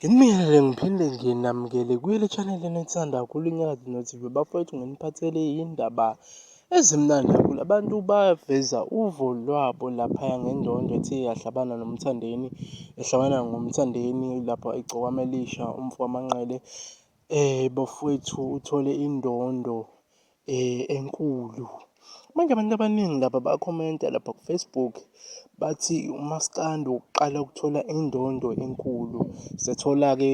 Ngimele ngiphinde nginamukele kuyile channel enithanda kakhulu iNyakatho NoTV bafowethu nginiphathele indaba ezimnandi kakhulu abantu baveza uvo lwabo laphaya ngendondo ethe yahlabana noMthandeni ehlabana ngoMthandeni lapho egcokama elisha umfo wamanqele eh bafowethu uthole indondo eh enkulu manje abantu abaningi laba bakhomenta lapha kufacebook bathi umaskandi uqala ukuthola indondo enkulu sethola-ke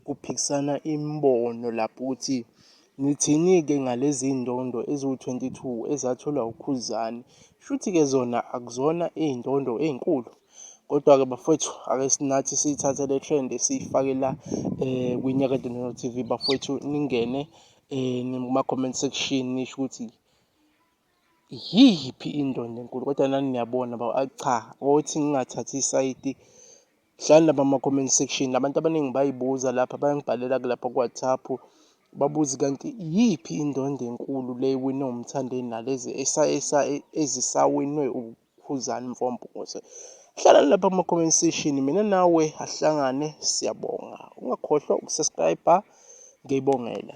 kuphikisana imibono lapho ukuthi nithini-ke ngalezi iy'ndondo eziwu-22 ezatholwa ukhuzani shuthi-ke zona akuzona iy'ndondo ey'nkulu kodwa-ke bafowethu ake sinathi siyithathe le trend siyifake la um kwinyakade nono tv bafowethu ningene um um kuma-comment section nisho ukuthi yiyiphi indondo enkulu kodwa nani niyabona ba ah, cha othi ngingathathi isayidi hlani laba ama-comment section abantu abaningi bayibuza lapha bayangibhalela kulapha ku-whatsapp babuze kanti yiyiphi indondo enkulu le ewinwe umthandeni nalezi ezisawinwe Khuzani mfompungose hlala lapha kuma comment section mina nawe ahlangane siyabonga ungakhohlwa ukusubscribe ngiyibongela